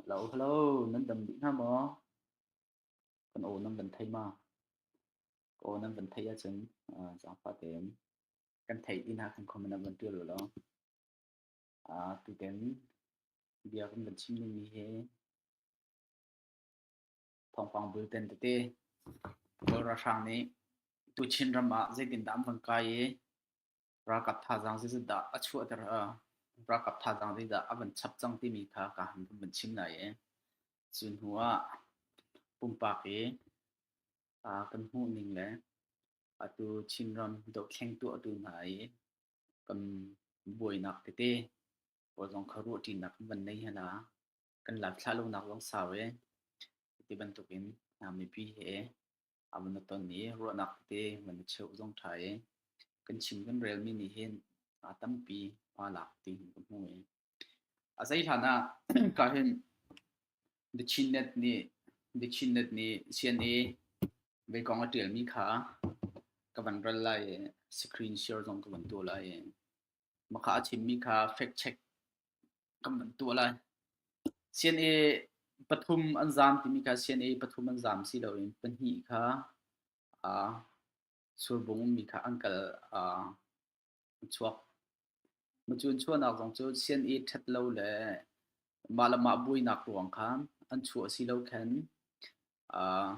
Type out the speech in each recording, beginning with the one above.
Hello, hello, nan dam dih hna maw? Kan aw nan van thei ma? Ka aw nan van thei ahcun uh, zaangfah tein kan thei ti hna kan comment an van ṭial ulaw uh, tutan bia kan van chim dingmi hi thawngpang bulten tete Kawl ralhrang nih tuchin ram ah zeitindah an van kai i ralkap thazaang zeizat dah a chuahter, ralkap thazaang zeidah a van chap cang timi kha ka han van chim lai i cu hnu ah pumpak i kan hmuhning le atu Chinram dohthleng tuahtu hna i kan buainak tete pawl zong kha ruahṭinak van nei hna kan laat thlah lonak zong sau i ti bantuk in mipi he a na ton i ruahnak te man cheuh zong ṭha i kan chim kan relmi nih hin aa tampi hma lak ti ka hmu i a zei hlan ah ka hin The Chinnet nih The Chinnet nih sian i vei kong a ṭialmi kha ka van rel lai i screen share zong ka van tuah lai i Maka a chimmi kha fact check kan van tuah lai. CNA pathum an zaam timi kha CNA pathum an zaam si loin pahnih kha uh, surbung ummi kha an kal uh, chuak. Macun chuahnak zong cu CNA ṭhat lo le mah le mah buainak ruang kha an chuah si lo khan uh,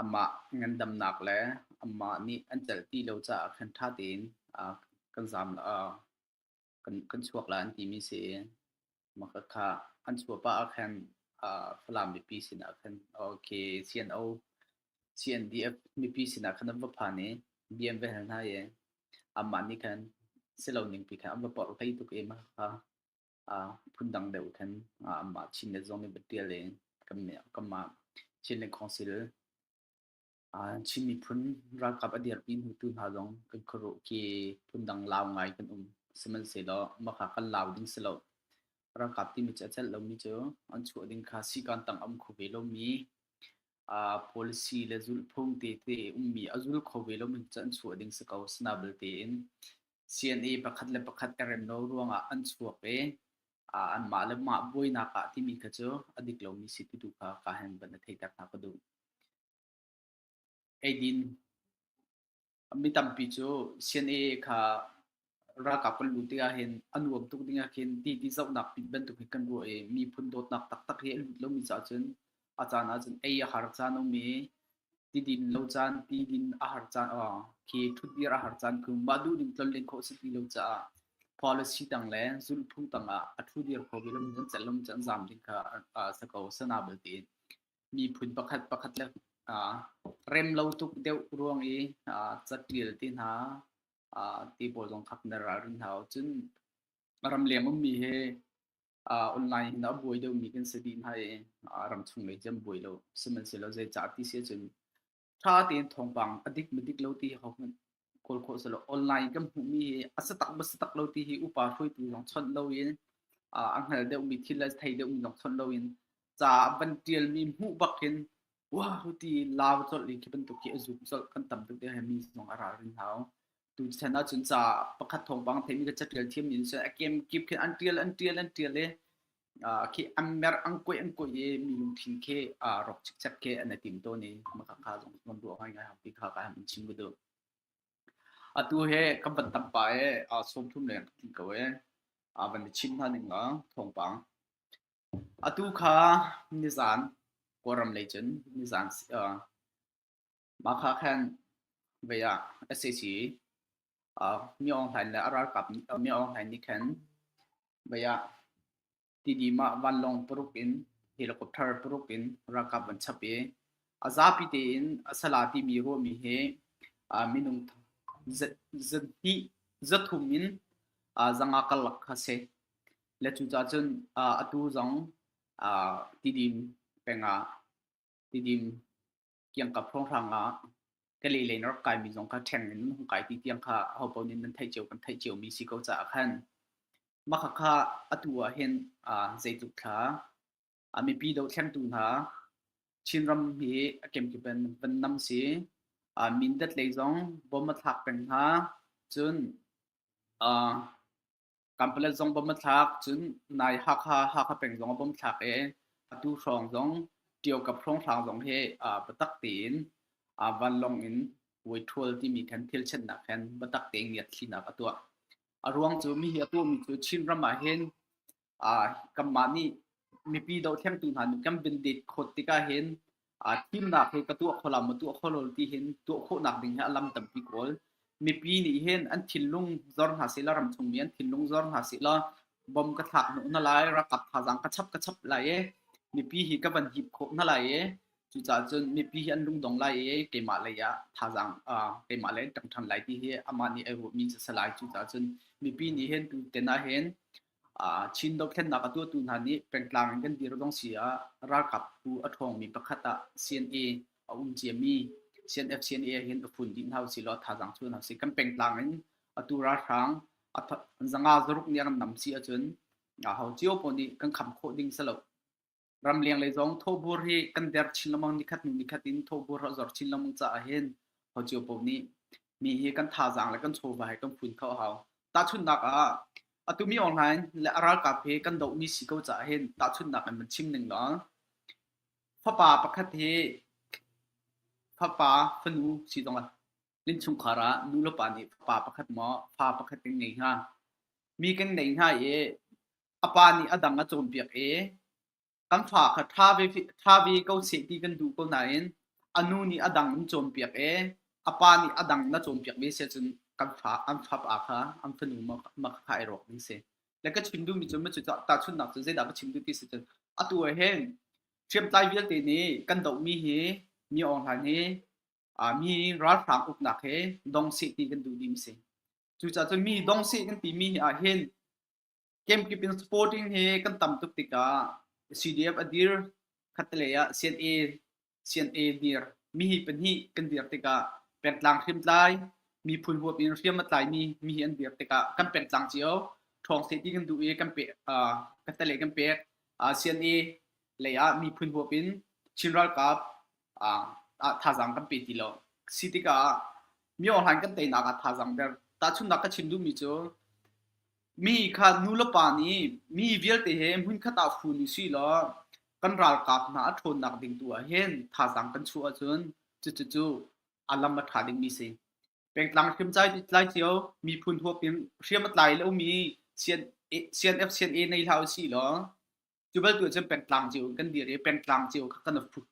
Amah ngandamnak le amah nih an celh ti lo caah khan ṭha tein kan zaam kan chuak la an timi si i Makhakha an chuah pah ah khan Falam mipi sinah khan CNDF mipi sinah khan an va phan i bia an va hal hna i amah nih khan si lo ning pi khan an va porhlei tuk i Makhakha phundang deuh then mah chin le zong in tial in kanmah chin le council Chin miphun ralkap a dirpi hnu tu hna zong kan khuaruh ki phundang lau ngai kan um sihmanhsehlaw makha kan lau ding si lo ralkap ti mi cu a celh lomi cu an chuah ding kha sikan tang am kho ve lomi policy le zulhphung tete ummi a zul kho ve lomi cu an chuah ding si ko. Asinain tein CNA pakhat le pakhat ka rem lo ruangah an chuak i anmah le mah buainak ah timi kha cu a dik lomi si titu kha ka hen ban a theihter hna ka duh. Eidin mi tampi cu CNA kha ralkap kan luh tikah hin a nuam tuk dingah khin didi zohnak pit bantuk hi kan ruah i miphun dawtnak taktak hi a lut lomi cah cun a caan ahcun ei a har caan ummi tidin lo caan tidin a har caan khi thutdir a har caan khu mah duh ding tlonlen khawh si ti lo caah policy tang le zulhphung tang ah a thu dir kho bi lo nan celh lo can zam ding kha sako sana belte miphun pakhat pakhat le uh, rem lo tuk deuh ruang i uh, catial ti hna uh, ti pawl zong khap na ral rin hna cun ram leng um mi he uh, online hin a buai deuh mi kan si din hai uh, ram chung lei jam buai lo siman se lo zei ca ti se cun ṭha tein thawngpang a dik ma dik lo ti hohmanh kawl khawh si lo. Online kan hmuhmi hi a satak ma satak lo ti hi upa hruaitu zong chawnh loin an hngal deuhmi thil le thei deuhmi zong chawnh loin ca van ṭialmi hmuh bak hin wow ti lau colh i khi bantuk khi a zum colh kan tam tuk te mi zong a ralrin hau. Tuchan ahcun ca pakhat thawngpang theimi ka catial thiam nin cu a kem kip khin an tial an tial an tial i khi an mer an kuih an kuih i mi lungthin khi rok cikcek ke an tim to ni maka ka zong nom ruang ngai ham pi kha ka ham chin bu du atu he kan van tam pa e som thum le kin ko e van chin na ning la thongpang atu kha nizan koram le chun nizan Mah kha khan vei ah SAC mi aung hlain le a ralkap mi aung hlain nih khan vei ah tidima vanlawng paruk in helicopter paruk in ralkap an chap i a zapi tein a sala timi ruahmi hi minung zahnih zathum in zanga karlak kha si le cucaah cun atu zong tidim pengah tidim tiang ka phongrang a ka le le nar kai mi zong kha ṭheng in hung kai ti tiang kha hopo nin nan theih cio kan theih cio mi si ko caah khan maka kha atu ah hin zeitluk thla a mipi do thlengtu hna Chinram hi a kemkipen pan nam si a mindat lei zong bom a thlak peng hna cun a Kanpalet zong bawm a thlak, cun nai Hakha, Hakha peng zong a bawm thlak i atu hrawng zong Ṭio Kap hrawng hrang zong hi biatak tein vanlawng in vuai ṭhual timi khan thil chanhnak khan biatak tein ngiat thlinak a tuah. A ruang cu mi hi a tuahmi cu Chinram ah hin kanmah nih mipi doh thlengtu hna nih kan bin date khawt tikah hin aa thimnak hi ka tuah kho la maw tuah kho lo ti hin tuah khawhnak ding hi a lam tampi kawl mipi nih hin an thinlung zor hna sih la ram chung mi an thinlung zor hna sih la bom ka thlak hnawh na lai rakap thazang ka chap ka chap lai e mipi hi ka van hip khawh na lai e cucaah cun mipi hi an lungdong lai e keimah lei ah thazang keimah lei tangthan lai ti hi amah nih ai ruah mi cu salai cucaah cun mipi nih hin tu ten ah hin Chin dohthlennak a tuahtu hna nih pengtlang in kan dir zong si ah ralkap phu a ṭhawngmi pakhat ah CNA a um ciami CNF CNA ahhin a fun dih hna usih law thazaang chuah hna usih kan pengtlang in atu ralhrang zanga zaruk niang an nam si ahcun aho cio paoh nih kan kham khawh ding si lo. ramleng le zong thobur hi kan der chin lengmang nikhat hnu nikhat in thobur ha zor chin lengmang caah hin hocio po nih mi hi kan thazaang le kan chawva he kan phun kho hau tahchunnak ah atu mi online le ralkap he kan do mi si ko caah hin tahchunnak in man chim ning lawng fapa pakhat hi fapa fanu si dong lin chungkhar ah nu le pa nih fapa pakhat maw fa pakhat kan ngei hna mi kan nei hna i a pa nih a dang a cawnpiak i kan fa kha ṭha ve ṭha ve ko seh ti kan duh ko nain a nu nih a dang in cawnpiak i a pa nih a dang na cawnpiak ve si cun kan fa an fa pa kha an fanu ma kha i rawk ding si le ka chim duhmi cu macu tahchunhnak cu zeidah ka chim duh ti si cun atu ah hin hriamtlai vialte nih kan dohmi hi mi ohlan hi mi ralhrang uknak he dong seh ti kan duh dim si cucaah mi dong seh kan timi hi ahhin Kemkip in supporting he kan tam tuk tikah CDF a dir khatlei ah CNA CNA dir mi hi pahnih kan dir tikah pengtlang hrimtlai miphun huap in hriam a tlai mi mi hi an dir tikah kan pengtlang cio ṭhawng seti kan duh i kan pe khatlei kan pek CNA lei ah miphun huap in Chin ralkap thazaang kan pe ti lo. Si tikah mi ohlan kan teinak ah thazaang der. Tahchunhnak ka chim duhmi cu mi kha nu le pa nih mi vialte he hmunkhat ah fu ni sih law kan ralkap hna a ṭhawnnak ding tu ah hin thazaang kan chuah ahcun cucucu a lam a ṭha dingmi si. Pengtlang hrimtlai tlai cio miphun huap in hriam a tlai lomi CNF CNA nei hlah u sih law cu bal tu cu pengtlang cio kan dir i pengtlang cio kha kan phut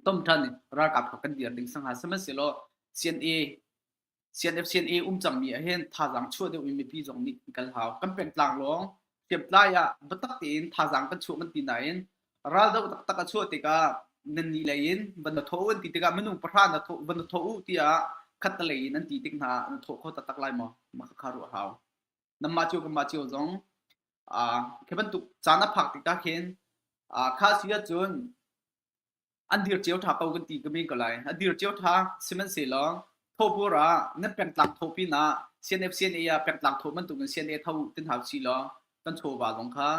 tom than in ralkap kha kan dir ding sang ha sihmanhsehlaw CNA CNFCNA um cangmi ah hin thazang chuah deuh in mipi zong nih kal hau kan pengtlang lawng hriamtlai ah biatak tein thazang kan chuah man ti nain raldoh taktak a chuah tikah nanni lei in van na tho an ti tikah minung pahra na tho van na tho u tiah khat lei in an ti tik hna na tho kho taktak lai maw maka kha ruah hau namma cio kanmah cio zong khi bantuk caan a phak tikah khin kha si ahcun an dir cio tha ko kan ti ka men ko lai a dir cio tha sihmanhsehlaw thopur ah nan pengtlang tho pin ah CNF CNA ah pengtlang tho bantuk in CNA tho tin hau si law kan chawva zong kha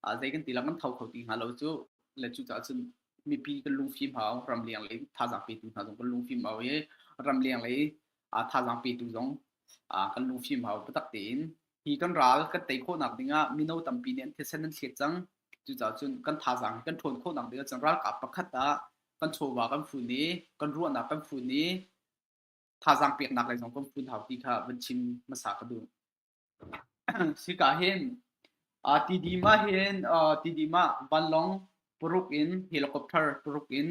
ah zei kan ti lang kan tho kho ti hna lo cu le cu caah cun mipi kan lungfim hau ram liang lei thazaang petu hna zong kan lungfim hau i ram liang lei thazaang petu zong kan lungfim hau biatak tein hi kan ral kan tei khawhnak dingah mino tampi nih an thisen an thlet cang cucaah cun kan thazaang kan ṭhawn khawhnak dingah cun ralkap pakhat ah kan chawva kan fun i kan ruahnak kan fun i thazaang peknak lei zong kan fun hau ti kha van chim hmasa ka duh Hika hin Tidim ahhin Tidim ah vanlawng paruk in helicopter paruk in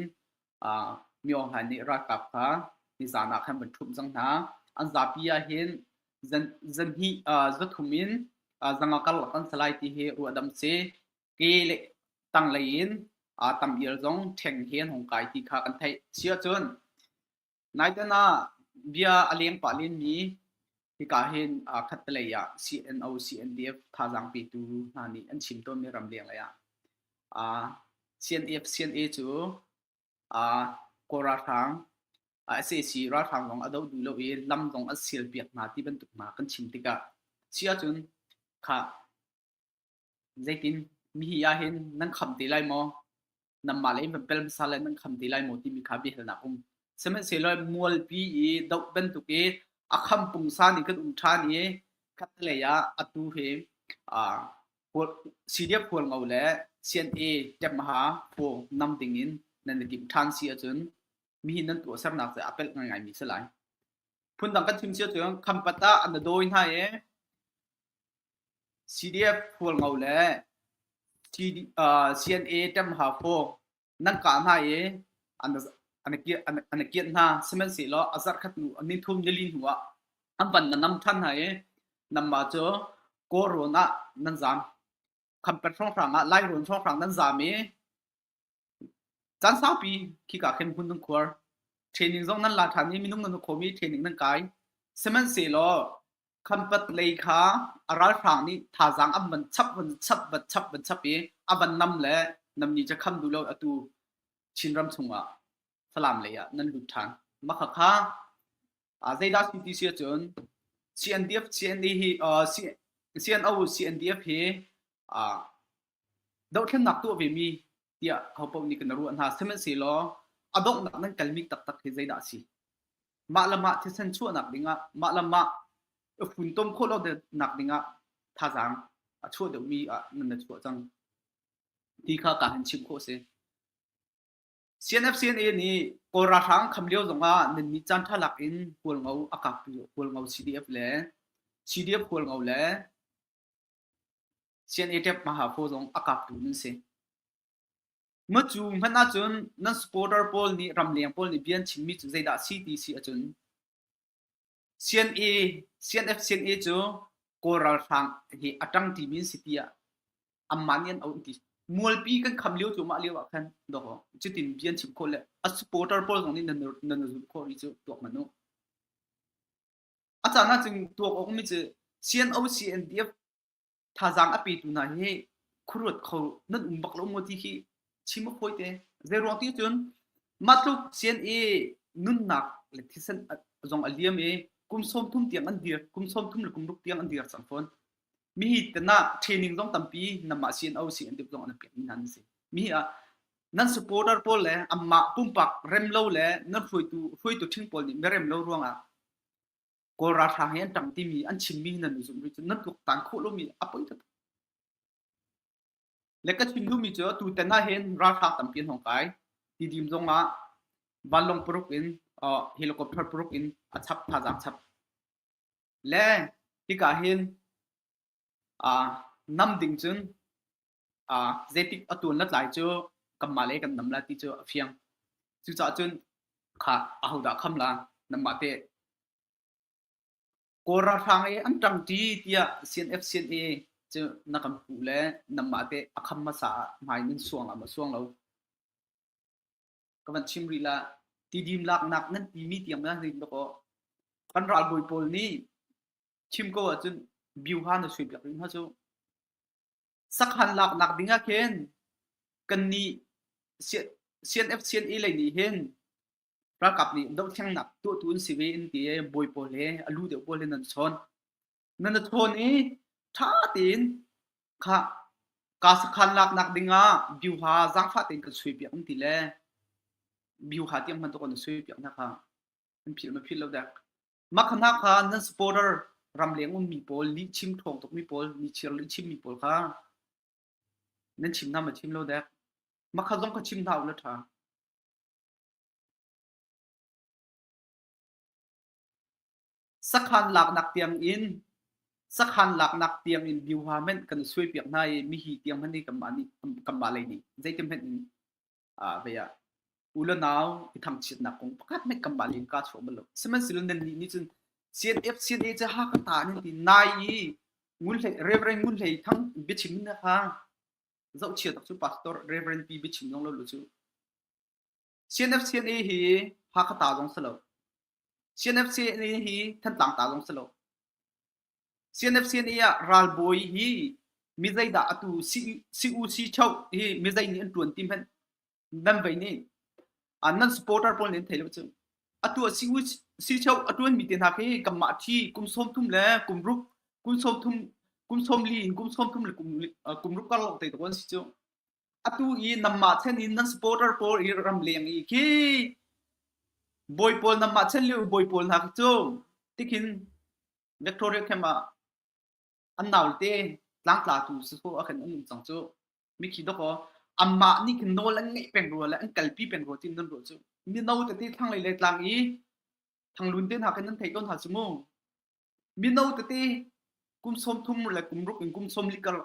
myohlan nih ralkap kha nizaan ah khan van ṭhumh cang hna. An zapi ahhin zarthum in zanga karlak an si lai ti hi ruahdamh si. Ke le tanglei in tam ial zong ṭheng hi an hung kai ti kha kan theih. Siahcun Naiten ah bia a leng pah lenmi hika hin khattelei ah CNO, CNDF thazaang petu hna nih an chim tawnmi ram lenglei ah CNF, CNA cu Kawl ralhrang, sac ralhrang zong a doh duh lo i lam zong an sialpiak hna ti bantuk hna kan chim tikah si ahcun khah Zeitin mi hi ahhin nan kham te lai maw? Nanmah le in van pel hmasa le nan kham te lai maw timi kha biahalnak um. Sihmanhsehlaw mualpi i doh bantuk i a kham pungsan in kan um ṭhan i khattelei ah atu hi uh, CDF khualngo le CNA ṭemha phu nam ding in nan i timh ṭhan si ahcun mi hi nan tuahsernak cu a pelh ngaingaimi si lai. Phundang kan chim si ahcun khampat ah an i dawi hna i CDF khualngo le CNA ṭamha phu nan kah hna i an i kianh hna. Sihmanhsehlaw a zarhkhat hnu nithum nili hnu ah an van na nam ṭhan hna i nanmah cu Kawlrawn ah nan zaam. Khampat hrawnghrang ah Lairawn hrawnghrang nan zaam i Caan saupi khika khin hmun nan khuar. Training zong nan la ṭhan i minung nan u khomi training nan kai. Sihmanhsehlaw khampat lei kha a ralhrang nih thazaang an van chap, van chap, van chap, van chap i a van nam le namni cu kham duh lo atu Chinram chungah Falam lei ah nan lut ṭhan. Makhakha ah zeidah CTC ahcun CNDF CND hi uh, C, CNO CNDF hi uh, Dohthlennak tuah vemi tiah hopaoh nih kan ruah hna. Sihmanhsehlaw a donghnak nan kalmi taktak hi zeidah a si? Mah le mah thisen chuahnak dingah, mah le mah i funtom khawh lo nak dingah thazaang a chuah deuhmi ah nan na chuah cang ti kha kaa han chimh khawh a si. CNFCNA nih Kawl ralhrang kham lio zongah nannih caan ṭha lak in Kualngo a kap Kualngo CDF le CDF Kualngo le Sian i ṭep hmaha phawzung a kaptu nan si. Mutcu hmanh ahcun nan supporter pawl nih ramleng pawl nih bia an chimmi cu zeidah a si ti si ahcun CNA CNF CNA cu Kawl ralhrang hi a ṭang timi an si tiah anmah nih an auh an ti. Mualpi kan kham lio cuahmah lio ah khan doh u. Cutin bia an chim khawh le a supporter pawl zong nih nan nan zulh khawh rih cu tuak hmanh u. A caan ahcun tuak awkmi cu CNO/CNDF thazaang a petu hna hi khuaruat kho nan um bak lo maw ti khi chim a fawi te. Zeiruang ti cun mah tluk CN i nunnak le thisen zong a liam i kum sawmthum tiang an dir, kum sawmthum le kum ruk tiang an dir cang fawn. Mi hi tena training zong tampi nangmah CNO/CNDF zong an pekmi hna an si. Mi hi a nan supporter pawl le anmah pumpak rem lo le nan hruaitu hruaitu ṭhing pawl nih merem lo ruangah Kawl ralhrang hi an ṭang timi an chimmi hi nan zumri cu nan tluk tan khawh lomi a poi tuk. Le ka thin lumi cu tu ten ah hin ralhrang tampi an hong kai ti dim zong ah vanlong paruk in helicopter paruk in a chap thazaang chap le hika hin nam ding cun Zeitik atu natlai cu kanmah le kan dam la ti cu a fiang. Cucaah cun kha ahodah a kham la, nanmah teh? Kawl ralhrang i an ṭangṭi tiah CNF-CNA cu na kan puh le nanmah teh a kham hmasa ah hmai nan suang ah maw suang lo? Ka van chim rih la, tidim laknak nan timi tiang na lim dawk aw. Kan ralbawi pawl nih chim ko ahcun biuha na suai piak rih hna cu. sakhan laknak ding ah khin kannih CNF CNA lei nih hin ralkap nih dohthengnak tuahtu an si ve in ti i bawi pawl he a lu deuh pawl in an chawn nan a chawn i ṭha tein kha ka sakhan laknak ding ah biuha zangfah tein kan sui piak an ti le biuha tiang hman tuk an sui piak hna kha an phil ma phil lo dek Makhna kha nan supporter ramleng ummi pawl nih chim ṭhawng tukmi pawl nichir i chimmi pawl kha nan chim na ma chim lo dek makha zong kha chim hna u la ṭha sakhan laknak tiang in sakhan laknak tiang in hniuha menh kan i suaipiak hna i mihi tiang hmanh nih kanmah nih kanmah lei nih zeitin hmanh in vei ah u le nau i thangchiatnak kong pakhat mei kan bal in ka chuah bal lo sihmanhsehlaw nannih nih cun CNF CNA cu ha ka ta nan ti nai i ngun hlei Reverend ngun hlei thang biachim na ha zoh chia tak cu pastor Reverend pi biachim dong lo lu cu CNF CNA hi ha ka ta zong si lo CNF CNA hi thantlang ta zong si lo CNFCNA ah ralbawi hi mi zeidah atu CUC hi mi zei nih an ṭuan ti hmanh nan vei nih nan supporter pawl nih an thei lo cu atu a CUC a ṭuan mi te hna khi kanmah thi kum sawm thum le kum ruk kum sawm thum kum sawm li kum sawm thum le kum ruk karlawng tei tuk an si cu atu i nanmah chan in nan supporter pawl i ram leng i khi bawi pawl nanmah chan lio bawi pawl hna cu tikhin Victoria camp ah an nau te tlangtla tu si ko a kan an um cang cu mi khi dok o amah nih kin nawl an ngeih peng rua le an kalpi peng rua tin nan ruah cu mino te te thang lei le tlang i thanglun te hna kan nan thei ton hal su mu mino te te kum som thum le kum ruk in kum som likar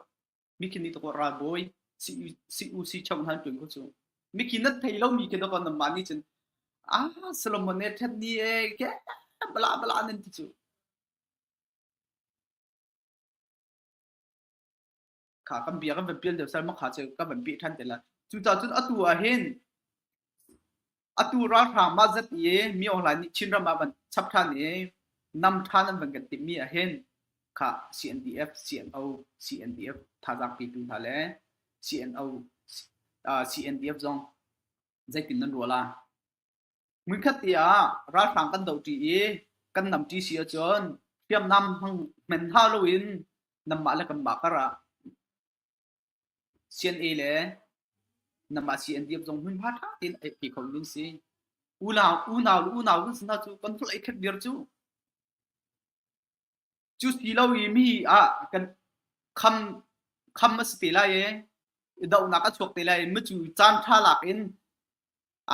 Mikini to ra boy si si u si chong han tun ko chu mikinat thei lo mi ke do kon man ni chen a solomon e that ni e ke bla bla nan ti chu kha kam bia kan ban piel de sal ma kha che ka ban bi than te la chu ta chun atu a hin Atu ralhrang mahzat i mi ohlai nih Chinram ah van chap ṭhan i nam ṭhan an van kan timhmi ah hin kha CNDF, CNO, CNDF thazaang petu hna le CNO, CNDF zong zeitin nan ruah la? Hmunkhat te ah ralhrang kan dohṭi i kan namṭi si ahcun hriamnam hman hna loin nanmah le kanmah kar ah Sian-e le namah si an diam zong hmunhma ṭha tein ei phi kho nan si. Unau, unau le unau kan si hna cu kan thul ei ṭhep viar cu. Cu si lo i mi ah kan kham kham a si te lai i dohnak a chuak te lai. Micu caan ṭha lak in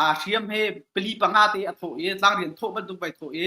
aa hriam he pali panga te a thawh i tlangrian thawh bantuk vai thawh i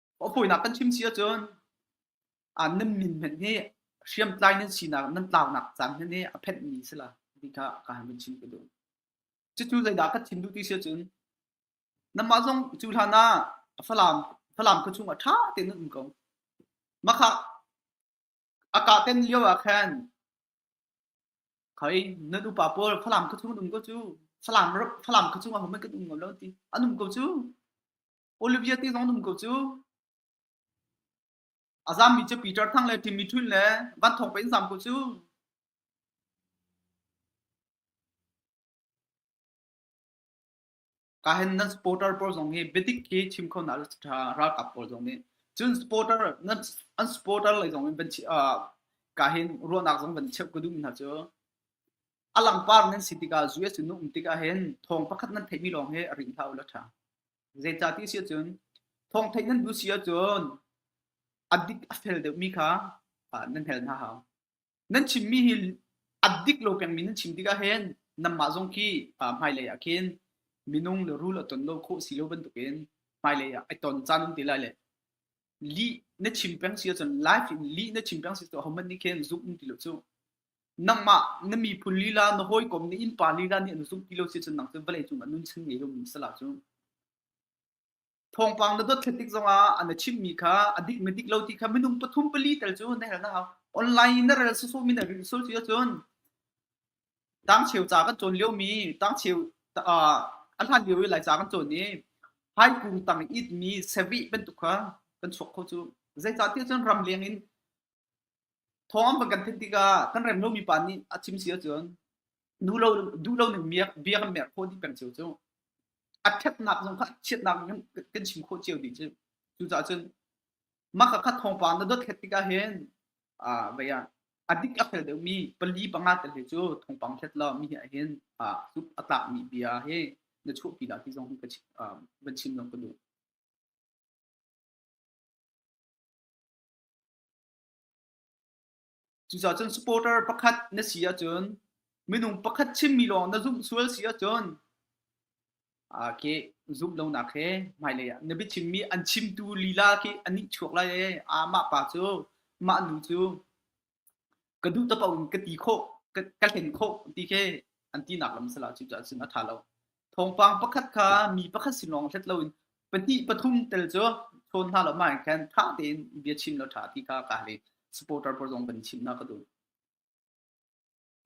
Apuinak kan chim chih ahcun ah nan min hmanh hi hriamtlai nan sinak nan tlaunak caan hmanh hi a phenhmi si la ti kha ka han chim ka duh. Cucu zeidah ka thim duh ti si ahcun nanmah zong cu hlan ah Falam Falam khua chung ah ṭha tein nan um ko. Makha aka ten lio ah khan khoi nan upa pawl Falam khua chung an um ko cu Falam Falam khua chung ah hom kan um ngam lo ti an um ko cu Olivia ti zong num ko cu. A zammi cu Peter Thang le Timmy Ṭhun le Van Thawng Pein zam ko cu. Kahen nan supporter pawl zong hi biatik hi chim kho na ralkap pawl zong nih cun supporter nan an supporter lei zong in van chi kahin ruahnak zong van cheuh ka duhmi hna cu a langpar nan si tikah US in um tikah hin thawng pakhat nan theihmi lawng hi ring hlah u la ṭha. Zeicah ti si ahcun thawng theih nan duh si ahcun a dik a fel deuhmi kha nan hel hna hau. Nan chimmi hi a dik lo pengmi nan chim tikah hin nanmah zong khi hmailei ah khin minung le rul a ton lo khawh si lo bantukin hmailei ah ai ton caan um ti lai le li na chim peng si ahcun life in li na chim peng si tu ahohmanh nih khin zumh um ti lo cu nangmah na miphun lila na hawikom na innpa lila nih an zumh ti lo si cun nang cu vawleicung ah nunchun ngei lomi si la cu thawngpang na dotthlet tik zongah a na chimmi kha a dik na dik lo ti kha minung pathum pali tal cu na hel na hau online na rel so so mi na rel so cu cun tangcheu ca kan cawn liomi tangcheu a hlan lio i lai ca kan cawn i haikung tang it mi sevi bantuk kha kan chuak kho cu zeicah ti cun ram leng in Thawng an van kan thenh tikah kan rem lomi pa nih a chim si ahcun duh lo ning bia kan mer khawh dih peng cio cu. A ṭhatnak zong kha chiatnak kan chim khawh cio dih cu. Cucaah cun mah kha thawngpa na dotthlet tikah hin vei ah a dik a fel deuhmi pali panga tal hi cu thawngpang hlet law mi ahhin cup a tlakmi bia hi na chuahpi lai ti zong van chim zong ka duh. Cucaah cun supporter pakhat na si ahcun minung pakhat chimmi lawng na zumh sual si ahcun khi zumh lonak he hmailei ah na biachimmi an chimtu lila khi a nih chuak lai ee, amah pa cu, mah nu cu ka duh tuk in ka ti khawh ka hlen khawh ti khi an tinak lam sal ah cu cah cun a ṭha lo. Thawngpang pakhat kha mi pakhat sin lawng hlet loin pahnih pathum tel cu chawn hna lo ma in khan ṭha tein bia chim lo ṭha ti kha ka hal i supporter pawl zong kan chimna ka duh.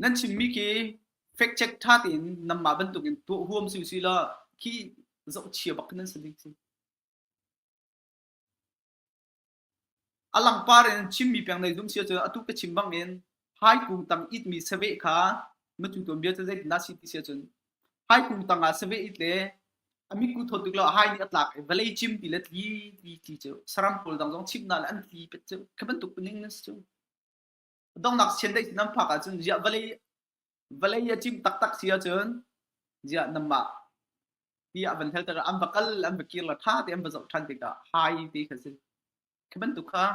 Nan chimmi khi fact check ṭha tein nanmah bantukin tuah huam si si la khi zoh chia bak nan sa ding si. A langpar in chimmi peng nai zum sia cun atu ka chim bangin haikung tang itmi saveh kha na tu tuanbia cu zeitindah a si ti sia cun haikung tang ah saveh it le a mit ku thawt tuk lo hai nih a tlak i vawlei cim ti le tli tli tli cu saram pawl dang zong chimnak le an tli pet cu kha bantuk paning na si cu. Donghnak siandaih nan phak ahcun ziah vawlei vawlei a cim taktak si ahcun ziah nanmah tiah van helter an va kal an va kir la ṭha te an va zoh ṭhan tikah hai ti kha si khi bantuk kha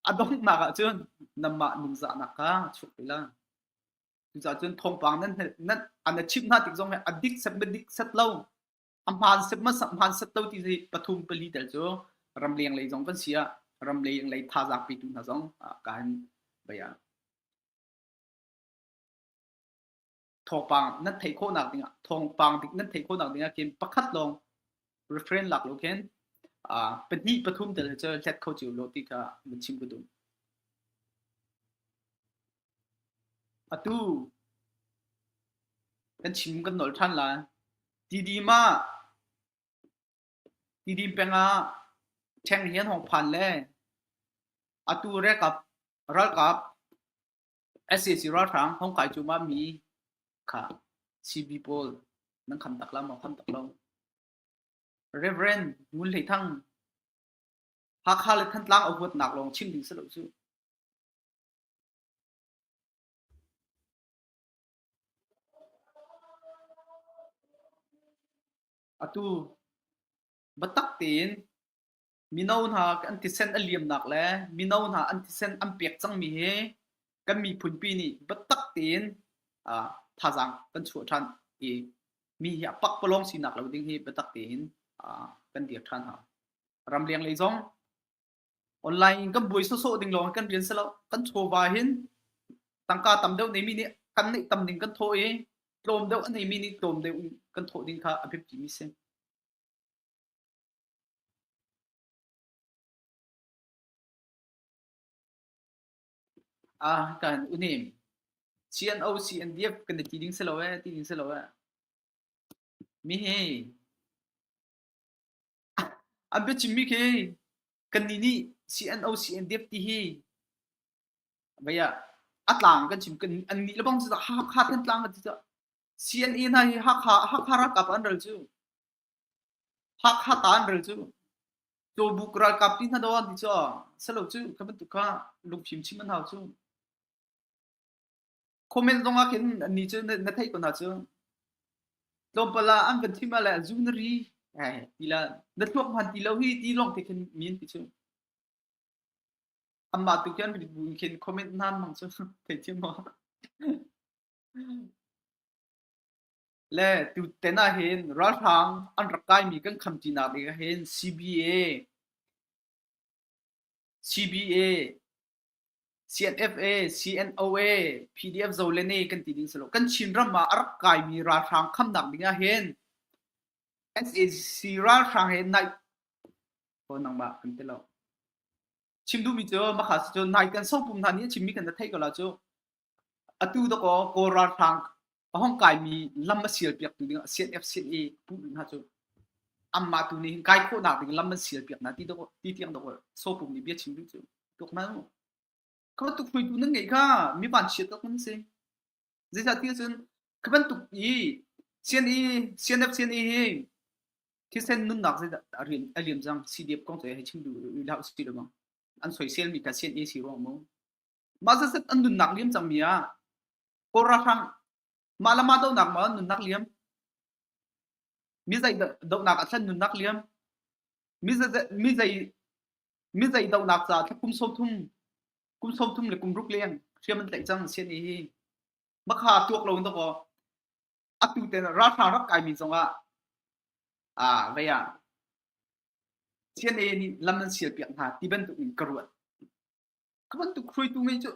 a donghnak ahcun nanmah nungzahnak kha chuak ti la cucaah cun thawngpang nan nan an a chimh hna tik zong hi a dik set le dik set lo hmansep masak hmansep to ti pathum pali tal cu ramleng lei zong kan si ah ramleng lei thazak pitu hna zong kan baya thawpang nan theih khawhnak dingah thawngpang dik nan theih khawhnak dingah ken pakhat long reference lak lo ken pahnih pathum tal cu hlet kho chiu lo ti ka mun chim ku dum Atu kan chim kan nolh ṭhan lai. Tidim ah, tidim peng ah ṭhengrian hawng phan le atu rekap ralkap sac ralhrang hong kai cum ah mi kha CB pawl nan kham tak la maw? Kham tak lo. Reverend Ngun Hlei Thang Hakha le Thantlang a huatnak lawng chim ding si lo cu. Atu biatak tein mino hna an thisen a liamnak le mino hna an thisen an pek cangmi hi kan miphunpi nih biatak tein thazaang kan chuah ṭhan i mi hi a pakpalawng sinak lo ding hi biatak tein kan dir ṭhan hna. Ramleng lei zong online in kan buai sawsawh ding lawng kan rian si lo kan chawva hin tangka tam deuh neimi nih kan neih tam ding kan thawh i tlawm deuh a neimi nih tlawm deuh in kan thawh ding kha a biapi mi si ah kan unim CNO CNDF kan ti ding si lo e ti ding si lo e mi hi A biachimmi khi kannih nih CNO CNDF ti hi vei ah a tlang in kan chim annih lebang cu Hakha Thantlang an ti tuah CNA hna hi Hakha Hakha ralkap an ral cu Hakha ta an ral cu Cawbuk ralkap ti hna do an ti caw salo cu kha bantuk kha lungfim chim an hau cu comment zong ah khin anni cu na theih ko na cu tlawmpal ah an kan thim ala zunari ai tila na thuak man ti lo hi ti long te khin min ti chu amma tu kan ri bu khin comment nan mang chu thei chiam mo le tu tena hin ralhrang an rakai mi kan kham tina de hin CBA CBA CNFA, CNOA, PDF zo le ne kan ti ding silo. Kan Chinram ah a rak kaimi ralhrang khamnak ding ah hin SAC ralhrang he nai ko nang ba kan ti lo. Chim duhmi cu makha cu nai kan sopum hna nih a chimmi kan na theih ko la cu Atu dok aw Kawl ralhrang a hong kaimi lam a sialpiaktu ding ah CNF CNA puhnu hna cu anmah tu nih hin kai khawhnak ding lam an sialpiak hna ti dok ti tiang dok Sopum nih bia chim duh cu tuk hna u. Kha bantuk hruitu nan ngeih kha mi vanchiat dok nan si. Zeicah ti cun kha bantuk i CNA CNF CNA hi thisen nunnak zeidah a rian a liam cang CDF kong te hei chim duh ila usih lamang an soisel mi ka CNA si ruang mu. Mah sasat an nunnak liam cangmi ah Kawl ralhrang mah le mah dohnak maw an nunnak liam. Mi zei dohnak ah thlen nunnak liam. Mi zei mi zei mi zei dohnak ca thla kum som thum kum som thum le kum ruk leng hriam an tlaih cang sian hi hi makha tuak lo to ko atu ten ralhrang rap kai mi zong ah a vai ah sian e ni lam nan sial piak hna ti bantuk in ka ruat A bantuk hruaitu ngei cu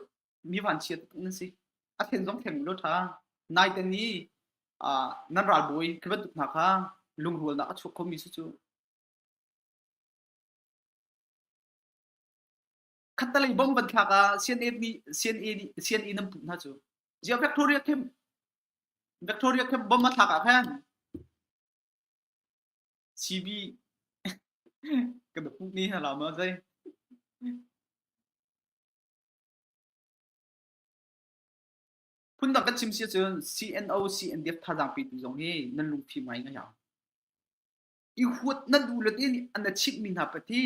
mi vanchia tuk an si. A then zong themmi lo ṭha. Naite ni nan ralbawi hi bantuk hna kha lungrualnak a chuak khomi si cu. Khattalei bom van thlak ah CNA nih CNA nih CNA nan puh hna cu. Ziah Victoria Camp Victoria Camp bom a thlak ah khan Chibi ka na puh ni hlah ma zei. Phundang kan chim si cun CNO CNDF thazaang petu zong hi nan lungthi ngai nga hiang. I huat nan duhlet i nih an na chimhmi hna pati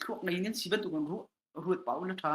thluak ngei nan si bantuk in ruat ruat pa u la ṭha.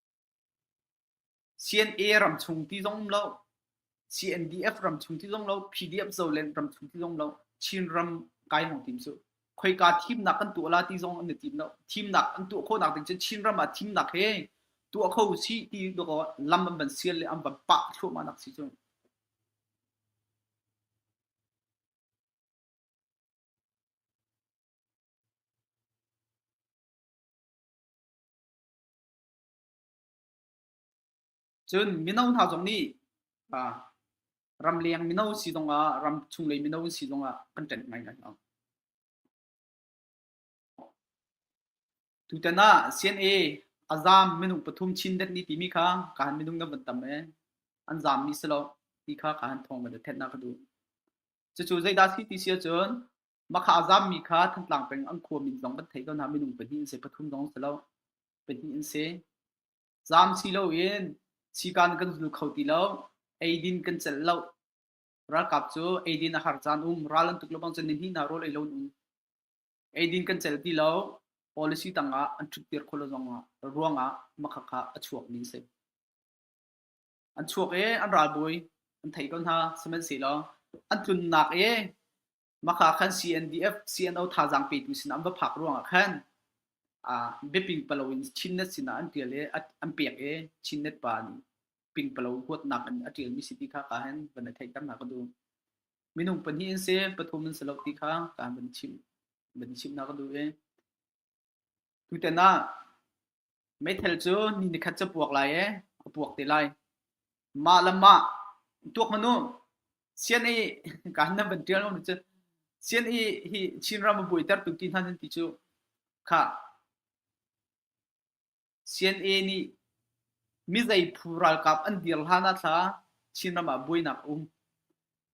CNA ramchung ti zong um lo, CNDF ramchung ti zong lo, PDF Zoland ramchung ti zong lo, Chinram kai mong tim su. Khoika thimnak kan tuah la ti zong an i tim lo. Thimnak an tuah khonak ding cun Chinram ah thimnak he tuah kho si ti do ko lam an van sial le an van pah thluahmah nak si cu. Cun mino hna zong nih ramleng mino si zongah, ram chunglei mino an si zongah kan ṭenh ngaingai hna. Tutan ah CNA a zaam minung pathum Chin det ni timi kha kaan minung na vun tam ee. An zaammi si lo ti kha kaan thawng men thennak ka duh. Cucu zeidah si ti si ahcun Maka a zammi kha Thantlang peng an khua min zong kan theih ko hna. Minung pahnih an si, pathum zong si lo. Pahnih an si. Zaam si loin sikan kan zul kho ti lo. Eidin kan celh lo. Ralkap cu eidin a har caan um. Ral an tuk lo bang cun nihin hna rawl ei lo um. Eidin kan celh ti lo. Policy tangah an ṭhuttir kholo zongah ruangah makha kha a chuak mi si. An chuak i an ralbawi an thei ko hna. Sihmanhsehlaw an tlunnak i Maka khan CNDF CNO thazaang petu sinah an va phak ruangah khan biaping palo in Chinnet sinah an tial i an pek i Chinnet pa nih pingpalo huatnak in a ṭialmi si ti kha ka hen van i theihter hna ka duh. Minung pahnih in si, pathum an si lo ti kha ka han van chim van i chimh hna ka duh i Tuten ah meithal cu ni nikhat cu a puak lai i a puak te lai. Mah le mah tuak hmanh u, CNA kaan nan van ṭial maw cu CNA hi Chinram a buaitertu ti hna nan ti cu khah. CNA nih mizei phu ralkap an dir hlan ah thla Chinram ah buainak a um.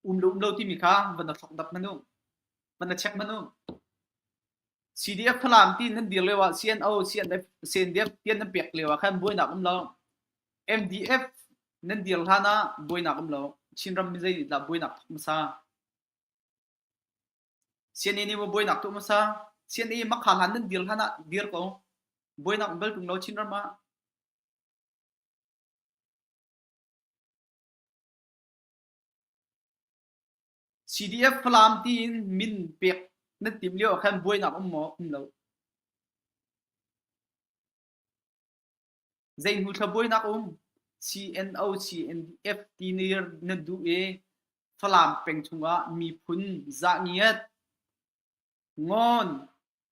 Um lo um lo timi kha van na thok dap manu. Van na check manu. CDF Falam ti nan dir leo ah CNO CNF CNDF tian nan pek leo ah khan buainak um lo. MDF nan dir hlan ah buainak um lo. Chinram mizei la buainak thok masa. Sianinn i buainak tu hmasa. Sianinn i makha hlan nan dir hlan ah dir ko. Buainak bal tung lo chin ram ah. CDF Falam ti in min pek nan tim lio ah khan buainak um maw um lo. Zei hnu thlabuainak um CNO CNDF ti ner nan duh i Falam peng chungah miphun zahngiat, ngon,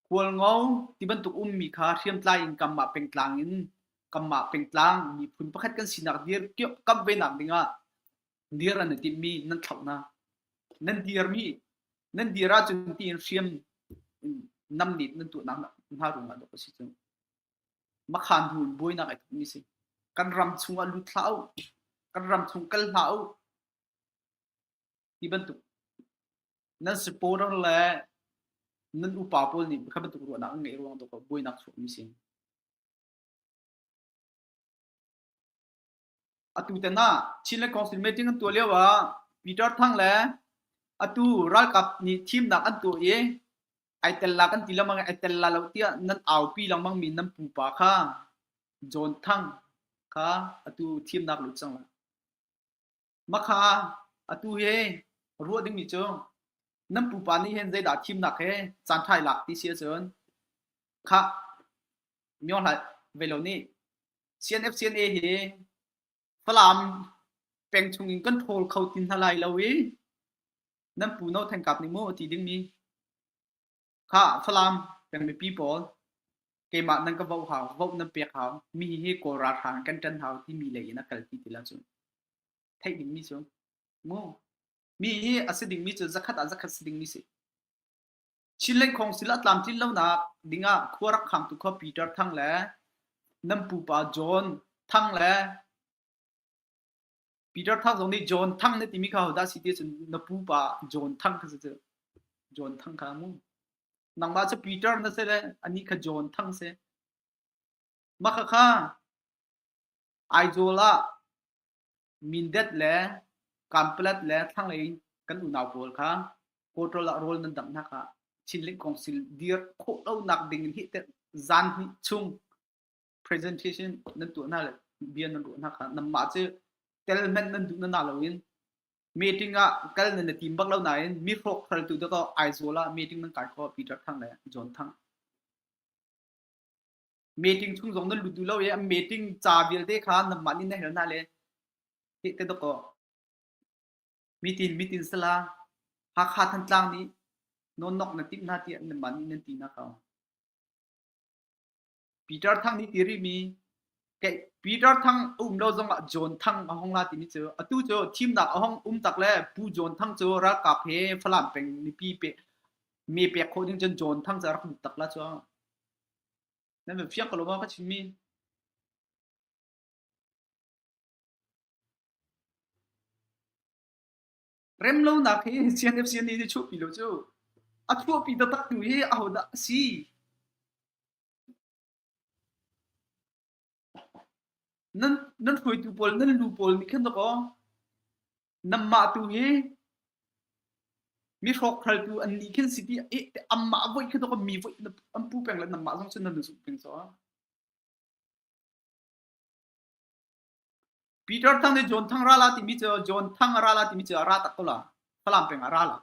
khualngo ti bantuk ummi kha hriamtlai in kanmah pengtlang in kanmah pengtlang miphun pakhat kan sinak dir kamh ve nak dingah dir an i timmi nan thlauh na nan dirmi nan dir ahcun tiin hriam namnit nan tuahnak hna ruangah dawk a si cu. Makhan hnu in buainak ai thokmi si. Kan ram chungah lut hlah u. Kan ram chung kal hlah u. Ti bantuk. Nan sipaw rang le nan upa pawl nih kha bantuk ruahnak an ngeih ruang tu buainak chuahmi si. Atuten ah Chin le Council meeting an tuah lio ah Peter Thang le atu ralkap nih thimnak an tuah i ai tella kan ti lengmang ai tella lo tiah nan aupi lengmang mi nan pupa kha John Thang kha atu thimnak lut cang lai. Makha atu hi ruah dingmi cu nan pupa nih hin zeidah thimnak he caan ṭha i lak ti si ahcun khah myo hlah vei lo nih CNF CNA hi Falam peng chung in control kho ti hna lai lo i nan pu no thengkap ning mu a ti dingmi Kha Falam kan mipi pawl keimah nan ka voh hau voh nan pek hau mi hi kawl ralhrang kan tan hau timi lei in a kal ti ti la cu theih ding mi cu mu mi hi a si ding mi cu zakhat ah zakhat si ding mi si Chin leng khong sil atlam tlin lo nak dingah khuarak khang tu kho Peter Thang le nan pupa John Thang le Peter Thang zong nih John Thang na timi kha hodah si ti cun na pupa John Thang kha cu John Thang kha mu nangmah cu Peter na se le ani kha John Thang se maka kha Aizawl ah Mindet le Kampalat le thlanglei in kan unau pawl kha hotel ah rawl nan dangh hna kha Chinlink Council dir khawh lonak ding in hi te zan hnih chung presentation nan tuah na le bia nan ruah na kha namma che tel men nan duh na na lo in meeting ah kal nan team bak lo na in mi hrok khal tu da to aizola meeting man kai ko peter thang le john thang meeting chung zong nan lutu lo ye meeting cha bial te kha namma ni na hel na le he te do ko mitin mitin sala ha kha than tlang ni non nok na tik na ti nan man nan ti na ka Peter Thang nih ti rihmi Peter Thang um lo zongah John Thang a hong la timi cu atu cu thimnak a hong um tak le Pu John Thang cu ralkap he Falam peng mipi pe me pek khawh ding cun John Thang cu a rak hmuh tak la cu nan van fiang ko lo maw ka chimmi Remlonak hi CNFC nih a chuhpi lo cu a chuahpi taktak tu hi ahodah a si? Nan, nan hruaitu pawl, nan lu pawl nih khan dakaw nanmah tu hi mi hrawkhraltu an nih khin si ti eh te ammah voih kha dakaw mi voih an pu peng le nanmah zong cu nan zumh peng caw. Peter Thang nih John Thang ra la timi cu John Thang a ra la timi cu a ra tak ko la. Falam peng ah ra la.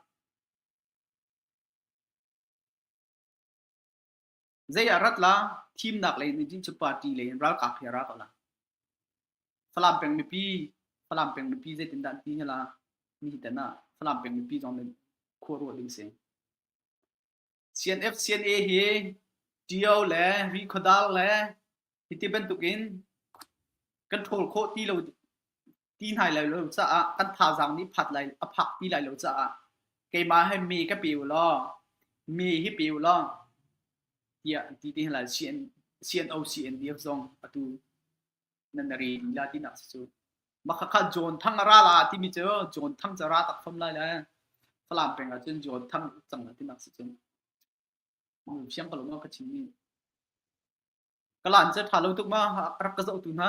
Zei ah rat la thimnak lei nih cu party lei in ralkap hi a ra ko la. Falam peng mipi Falam peng mipi zeitin dah ti nya la ni hi tan ah Falam peng mipi zong nih khua ruah ding si. CNF-CNA hi ṭio le Rikhawdar le hiti bantukin kan ṭhawl khawh ti lo ti hnai lai lo caah kan thazaang nih phat lai a phak ti lai lo caah keimah he me ka pe u law me hi pe u law tiah ti te lai CN CNO CNDF zong atu nan na ri la tinak si cu makhakha John Thang ra la timi cu John Thang ca ra tak thon lai le Falam peng ah cun John Thang cang la tinak si cu phiang ka loma ka chimmi kalan che tha lo tuk ma rak ka zo tu na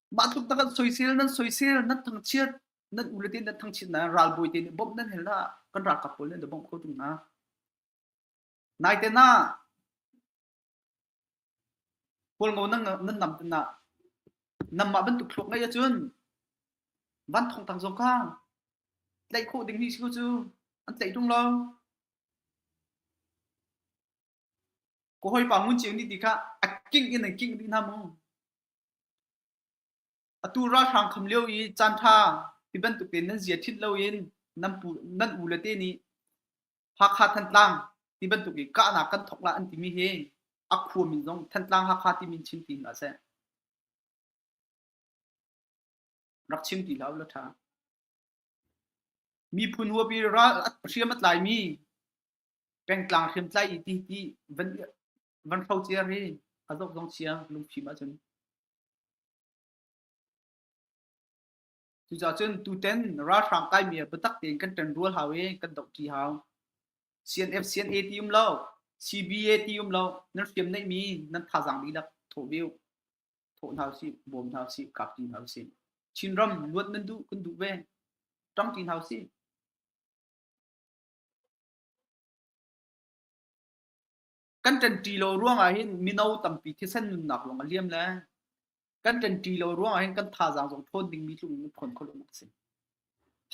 mah tluk tak an soisel nan soisel nan thangchiat nan ule te nan thangchin na ralbawi te nih bom nan hel na kan rak kap pol ne da bong kho tung na nai te na pol ngo nan nan nam na nam ma ban tuk thluak ngai acun van thong tang zong kha tlei kho ding ni chu chu an tlei tung lo Ka hawipa Ngun Ceu nih ti kha a kingh in an kingh rih hna maw? Atu ralhrang kham lio i caanṭha hi bantukin nan zia ṭhit loin nan pu nan ule te nih Hakha Thantlang ti bantuk i kahnak kan thawk la an timi hi a khuam in zong Thantlang Hakha timi in chim ti hna seh. Rak chim ti hlah ula ṭha. Miphun huapi ral hriam a tlaimi pengtlang hrim tlai i ti ti van hro cia ri a dok zong chia lungfim ahcun cucacun tutan ralhrang kaimi biatak tein kan tan rual hau i kan dok ṭi hau CNF CNA ti um lo CBA ti um lo nan hriam neih mi nan thazang dihlak thawh biu thawh hna si bawm hna si kap ti hna si Chin ram luat nan duh kan duh ve ṭang ti hna si Kan ṭanṭi lo ruangah hin mino tampi thisen nunnak ruangah liam le kan ṭanṭi lo ruangah hin kan thazaang zong ṭhawn dingmi tluk in ṭhawn kho lonak a si.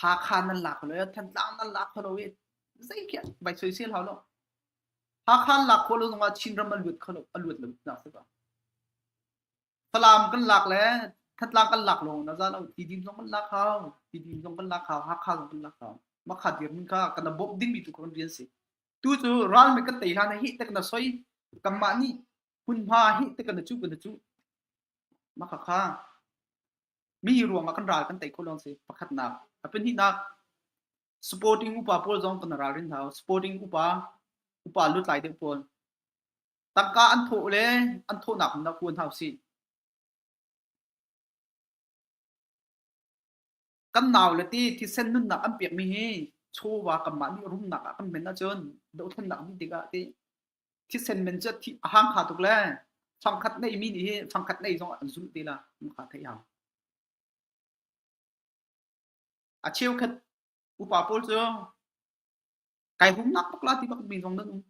Hakha nan lak kho lo i Thantlang nan lak kho lo i zeikhiah vai soisel hau lo. Hakha an lak khawh lo zongah Chinram a luat kho lo, a luat lo nak si ko. Falam kan lak le Thatlang kan lak lawng na zan au tidim zong kan lak hau tidim zong kan lak hau Hakha zong kan lak hau makha dir min kha kana bawp ding mi tu kan rian si tu cu ral me kan tei hlan hi tek na soi kamma ni hun hma hi tek na chu na chu makha kha mi ruang kan ral kan tei kholong si pakhat nak apen hi nak supporting upa pawl zong kan ral rin hau supporting upa upa lutlai de pawl Tangka an thawh le an thawhnak in rak kuan hau sih. Kan nau le ti thisen nunnak an pekmi hi chawva kanmah nih rumnak ah kan men ahcun dohthannak an tikah ti thisen men cu a hang kha tuk le changkhat nei mi nih hi changkhat nei zong an zulh ti la an kha thei hau a cheukhat upa pawl cu kai humnak tuk la ti bak mi zong nan um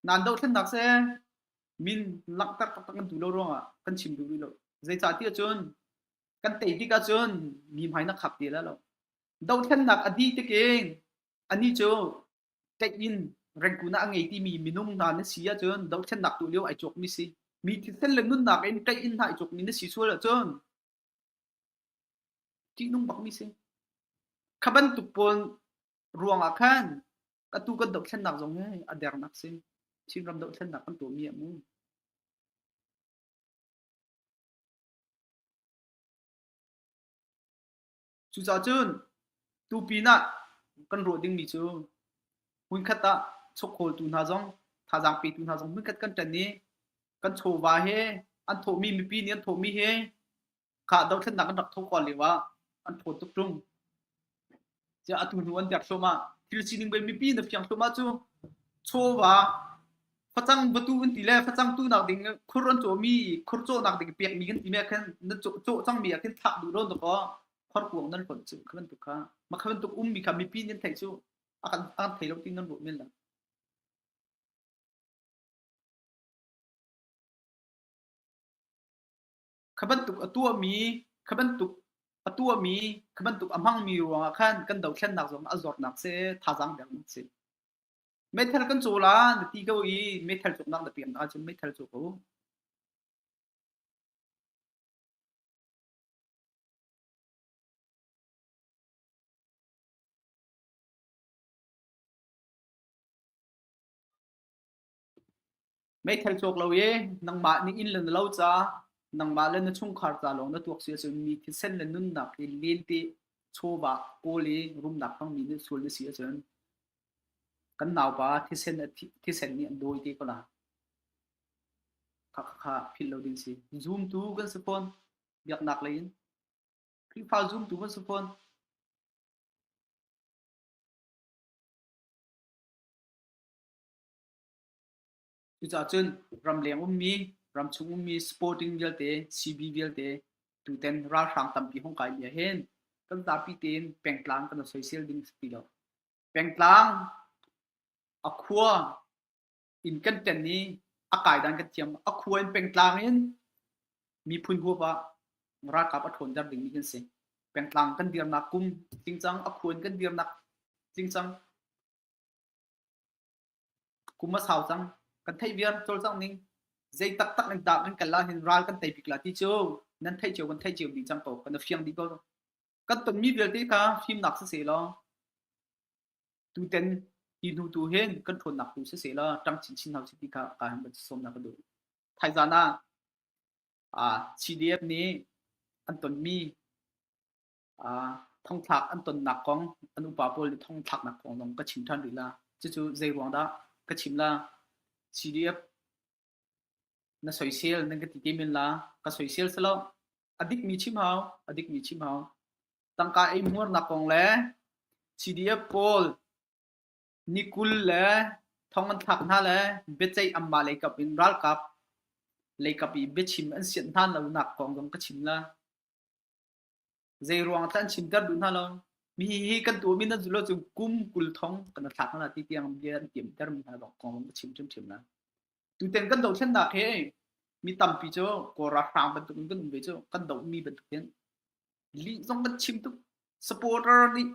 nan dohthlennak seh min langhter taktak kan tu lo ruangah kan chim duh rih lo zeicahtiah cun kan tei tik ahcun mi hmai na khap te la lo dohthlennak a dih tekin ani cu tlaih in rengkun ah a ngei timi minung na na si ahcun dohthlennak tu lio ai cawkmi si mi thisen le nunnak in tlaih in na ai cawkmi na si sual ahcun ṭihnung bak mi si kha bantuk pawl ruangah khan atu kan dohthlennak zong hi a dernak si Chinram dohthlennak kan tuahmi a mu. Cucacun tu pinah kan ruah dingmi cu hmunkhat ah chokholtu hna zong thazaang petu hna zong hmunkhat kan ṭan i kan chawva he an thawhmi mipi nih an thawhmi he khah dothlennak an rak thokual lio ah an phawt tuk ṭung tiah atu hnu an der thluahmah thil sining bei mipi na fiang thluahmah cu chawva facang batu an ti le facang tu nak ding khur an caw mi khur caw nak ding pek mi kan ti meh khan na caw cang mi ah khin thak duh don to ko khor kuang nan phon chu khaban tuk kha ma khaban tuk um mi kha mipi nan thei chu akan an thei lo tin nan ru men la kha bantuk a tuahmi kha bantuk a tuahmi kha bantuk a hmangmi ruangah khan kan dothlennak zong a zawtnak se thazaang deng a si meithal kan cola na ti ko i meithal cuknak na piang ahcun meithal cu ko Meithal tlawk lo ee, nangmah nih inn le na lo ca, nangmah le na chungkhar ca lawng na tuak si ahcun mi thisen le nunnak in len te, chawva kawl i rumnak hmangmi nih sual na si ahcun kan naupa thisen, thisen nih an dawi te ko lai. Khakhakha philh lo ding si. Zumtu kan si fawn, biaknak lei in. Khrihfa zumtu kan si fawn. Cucaah cun ramleng ummi, ramchung ummi sporting vialte, CB vialte, tutan ralhrang tampi hong kai bia hin kan zapi tein pengtlang kan i soisel ding a si ti lo. Pengtlang a khua in kan ṭen i a kai dan kan thiam. A khua in pengtlang in miphun huap ah ralkap a ṭhawnter dingmi kan si. Pengtlang kan dirnak kum tling cang, a khua in kan dirnak tling cang. Kum a sau cang. Kan theih viar cawlcang ning. Zei taktak in dak in kal la hin ral kan tei bik la ti cu nan theih cio kan theih cio ding cang ko kan a fiang dih ko. Kan tonmi vialte kha fimnak si se law tu ten hi hnu tu hin kan ṭhawnnak tu si se law ṭang chin chin hau si ti kha ka han bat sawmnak ka duh. Thaizan ah ah CDF nih an tonmi thongthlak an tonnak kong an upa pawl nih thongthlaknak kong zong ka chim ṭhan rih la cucu zeiruang dah ka chim la CDF na soisel nan ka ti te men la ka soisel selo a dikmi chim hau a dikmi chim hau tangka ei muarnak kong le CDF pawl nikul le thong an thlak hna le biaceih amma leikap in ralkap leikap i biachim an sianh hna lonak kong zong ka chim la Zeiruang tlan chinter duh hna lo. Mi hi kan tu mi nan zulo cu kum kul thong kan thlak hna ti tiang bia an tiam ter mi hna dong kong a chim chim chim na. Tuten kan do thlen nak he mi tampi cu Kora hrang bantuk in kan um ve cu kan do mi bantuk hin li zong kan chim tuk supporter nih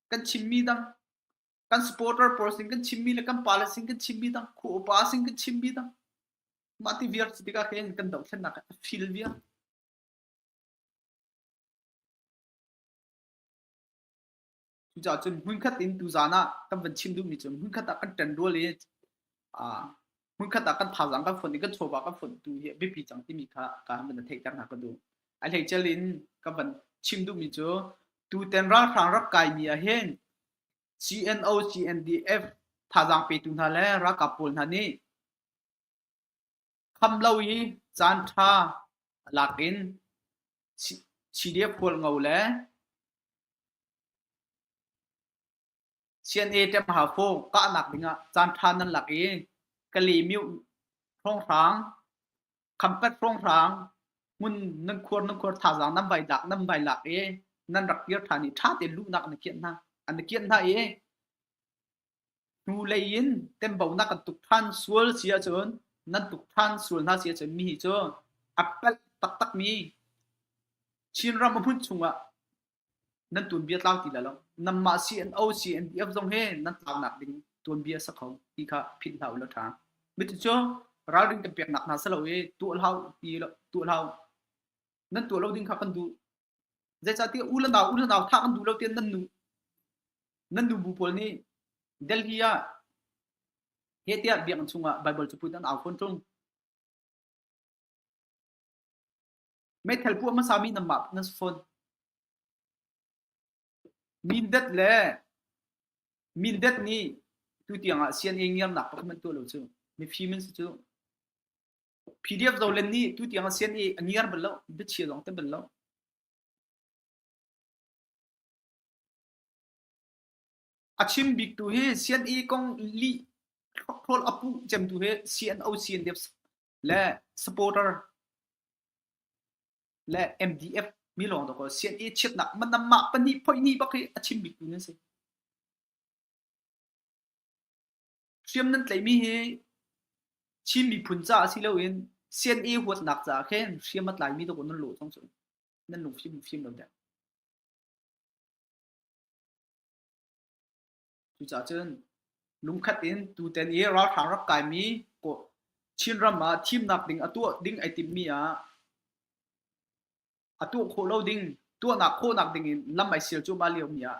kan chim mi dang kan supporter pawl sin kan chimmi le kan pale sin kan chimmi dang khu upa sin kan chimmi dang mah ti viar ci tikah khin kan dohthlennak a feel viar cuca cun hmunkhat in tuzan ah kan van chim duhmi cu hmunkhat ah kan ṭanrual i hmunkhat ah kan thazaang kan fonh i kan chawva kan fonh tu hi a biapi cang timi kha ka van theihter hna ka duh a hleichel in ka van chim duhmi cu tutan ralhrang rak kai ni ahhin CNO CNDF thazaang petu hna le ralkap pawl hna nih kham lo i caan ṭha lak in CDF khual ngo le CNA Temhafo kahnak ding ah caan ṭha nan lak i Kali Myu hrawnghrang Khampat hrawnghrang hmun nan khuar nan khuar thazaang nan vai lak nan vai lak i nan rak kir ṭhan i ṭha tein luhnak na kianh hna an na kianh hna i hnu lei in tembonak kan tuk ṭhan sual si ahcun nan tuk ṭhan sual hna si ahcun mi hi cu a palh taktakmi Chinram a hmun chungah nan tuanbia tlau ti la lo nanmah si an o si an ti ap zong he nan tlaunak ding tuanbia a sak kho ti kha philh hlah u ṭha cucu ralring kan peknak hna silo i tuah hlau ti lo tuah hlau nan tuah lo ding kha kan duh zeicahtiah u le nau u le nau tha kan duh lo tian nan nu nan nu bu pawl nih delhi ah he tiah biakinn chungah bible cuput an au khon ṭung Meithal puah hmasami nanmah na fawn. Mindet le mindet nih tutiang ah CNA ngiamnak pakhat man tuah lo cu mifim an si cu. PDF zolen nih tutiang ah CNA a ngiar bal lo, biachia zong te bal lo. A chim bik tu hi CNA kong li thlol apu cem tu hi CNO CNDF le supporter le MDF mi lawng to ko CNA chiatnak manam ma pahnih phoih ni bak hi a chim bik tu ne si hriam nan tlaimi hi Chin miphun ca si lo in CNA huatnak ca khen hriam a tlai mi to ko nan lo chong chung nan lung phim phim lo de Cucaah cun lungkhat in tutan i ralhrang rak kaimi Chinram ah thimnak ding a tuah ding ai timmi ah a tuah khawh lo ding tuahnak khawhnak ding in lam ai sial cuahmah liomi ah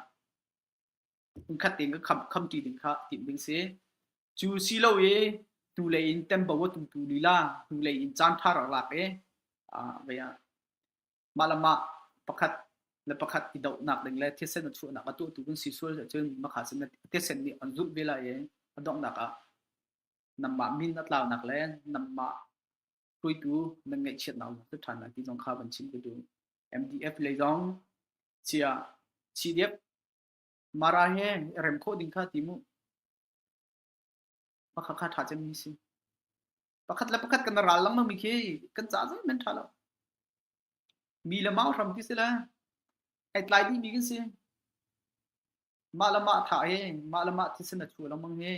phungkhat tein ka khamṭi ding kha timh ding si. Cu si lo i hnulei in tembo a tumtu lila hnulei in caanṭha rak lak i vei ah mah le mah pakhat na pakhat i dohnak ding le thisen na chuahnak a tuahtu kan si sual cun makhasin na thisen nih an zulh ve lai i a donghnak ah namah min a tlaunak le namah hruitu nan ngeihchiatnak cu ṭhan lai ti zong kha van chim tu MDF lei zong cia CDF mara he rem khawh ding kha ti mu Pakhat kha ṭha cemmi si. Pakhat le pakhat kan ral lengmangmi khi kan caah zeihmanh ṭha lo. Mi le mau hram ti si le ai tlai dihmi kan si. Mah le mah tha he, mah le mah thisen a thua lengmang he,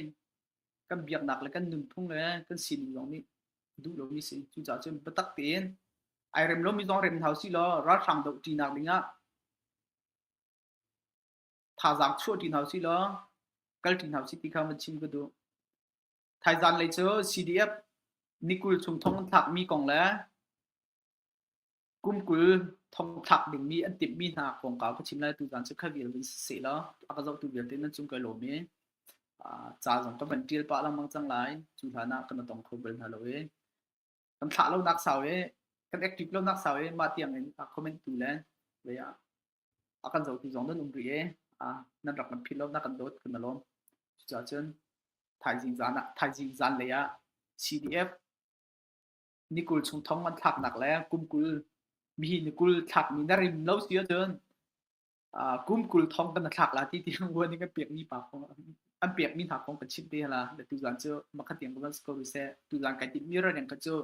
kan biaknak le kan nunphung le kan sining zong nih duh lomi si. Cucaah cun biatak tein ai rem lomi zong rem hna usih law ralhrang doh ṭinak dingah thazaang chuah ṭi hna usih law kal ṭi hna usih ti kha van chim ka duh. Thaizan lei cu CDF nikul chung thongthlakmi kong le kum kul thongthlak dingmi an timhmi hna kongkau ka chim lai tu zan cu kha vial in si law a ka zohtu vialte nan cung kai lawm i ca zong ka van ṭial pah lengmang cang lai cu hlan ah kan i tong kho bal hna lo i kan thlah lonak sau i kan active lonak sau i mah tiang in comment tu le vei ah a kan zohtu zong nan um rih i nan rak nan philh lo na kan dawt kan alawm cucaah cun thaizing zan ah thaizing zanlei ah CDF ni kul chung thong an thlaknak le kum kul mi ni kul thlakmi na rim lo si ahcun kum kul thong kan thlak la ti tiang vuan in kan pekmi pa kong an pekmi hna kong kan chim te hala le tuzan cu makhat tiang kan ko se tuzan kai timmi rang ka cu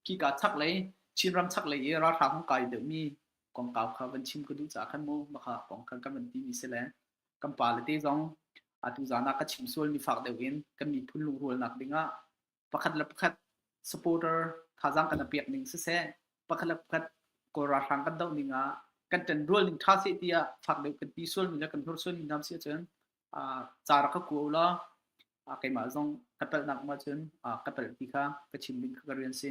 ki ka chak lei chinram chak lei i ralhrang hong kai deuhmi kongkau kha van chim ka duh caah khan mu maka kong kha kan van ti mi si le kan pa le te zong atu zan ah ka chim sual mi fak deuh in kan miphun lungrual nak ding ah pakhat le pakhat supporter thazang kan pek ning si se pakhat le pakhat kawl ralhrang kan doh ning ah kan tan rual ning tha se tia fak deuh kan ti sual mi le kan hor sual mi nam si cun cara ka kuo la keimah zong ka pelnak ma cun ka pel ti kha ka chim ding kha ka rian si